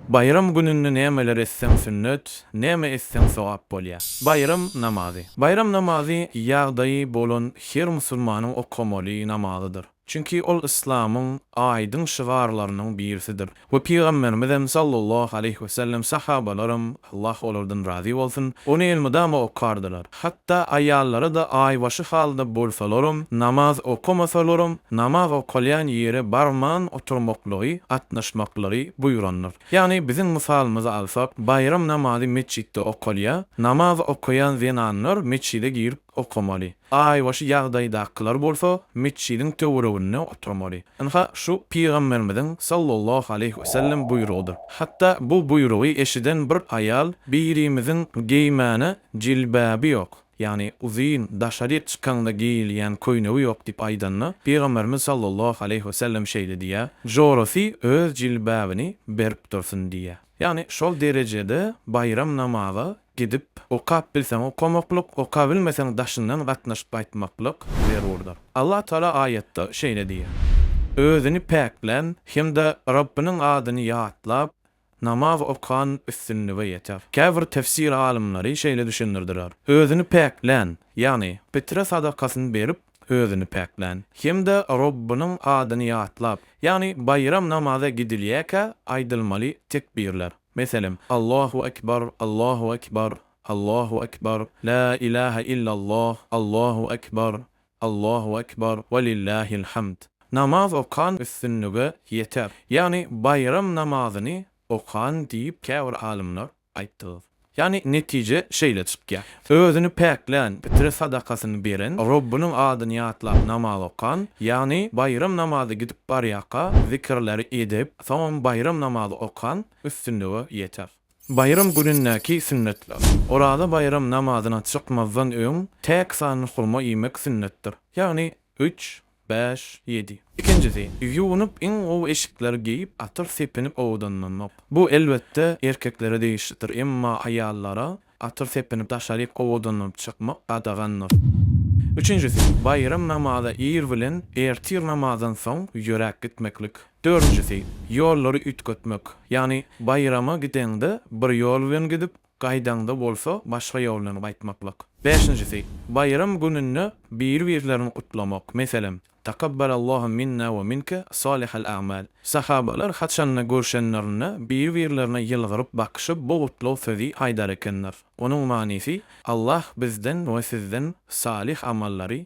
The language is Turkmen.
Baýram gününde nämeler etseň sünnet, näme etseň sogap bolýar? Baýram namazy. Baýram namazy ýagdaýy bolan her musulmanyň okamaly namazydyr. Çünki ol yslamyň aýdyň şygarlarynyň birisidir we Pygamberimizem sallallahu aleýhi wesellem, sahabalaram, Allah olardan razy bolsun, ony elmydama okardylar. Hatda aýallara-da aýbaşy halda bolsalaram, namaz okamasalaram, namaz okalýan ýere barman oturmaklygy, gatnaşmaklary buýrandyr. Ýagny biziň mysalymyzy alsak, baýram namazy metjitde okalýar, namaz okaýan zenanlar metjide girip okamaly. Aýbaşy ýagdaýdakylar bolsa metjidiň töwereginde oturmaly. Ynha, şu Pygamberimiziň sallallahu aleýhi wesellem buýrugydyr. Hatda bu buýrugy eşiden bir aýal birimiziň geýmäne Jilbaby ýok, ýagny uzyn, daşaryk çykanda geýilýän köýnegi ýok diýip aýdanda, Pygamberimiz sallallahu aleýhi we sellem şeýle diýýär, Jorasy öz jilbabyny berip dursun diýýär. Ýagny şol derejede baýram namaza gidip, okap bilseň okamaklyk, okabilmeseň daşyndan gatnaşyp gaýtmaklyk zerurdyr. Allah Taala aýatda şeýle diýýär, Özüni päklän hem-de Rabbynyň adyny ýatlap, Namaz okan üstünlige ýeter. Käbir tefsir alymlary şeýle düşündirdiler, Özüni päklän, ýagny pitre sadakasyny berip, özüni päklän hem-de Robbynyň adyny ýatlap, ýagny baýram namaza gidilýärkä aýdylmaly tekbirler, meselem, Allahu ekber, Allahu ekber, Allahu ekber, La ilahe illalloh, Allahu ekber, Allahu Ekber we lillahil hamd. Namaz okan üstünlige ýeter. Ýagny baýram namazyny okan diýip käbir alymlar aýtdygyz. Ýagny netije şeýle çykýar. Özüni päklän, pitre sadakasyny beren, Robbynyň adyny ýatlap namaz okan, ýagny baýram namazy gidip barýaka zikirleri edip, soňam baýram namazy okan üstünlige ýeter. Baýram günündäki sünnetler. Oraza baýram namazyna çykmazdan öň täk sanly hurma iýmek sünnetdir. Ýagny, üç, bäş, ýedi. Ikinjisi, ýuwunyp, iň gowy eşikleri geýip, atyr sepinip owadanlanmak. Bu, elbetde, erkeklere degişlidir, emma aýallara atyr sepinip daşaryk owadanlanyp çykmak gadagandyr. Üçünjisi, baýram namaza ir bilen, ertir namazdan soň ýöräp gitmeklik. Dördünjisi, ýollary üýtgetmek. Ýagny baýrama gideňde bir ýol bilen gidip, gaýdaňda bolsa başga ýol bilen gaýtmaklyk. Bäşinjisi, baýram gününde biri-birlerini gutlamak. Meselem, Takabbalallahu minna we minke salihal a'mal. Sahabalar haçanda görşenlerinde biri-birlerine ýylgyryp bakyşyp bu gutlag sözi aýdar ekenler. Onuň manysy, Allah bizden we sizden salyh amallary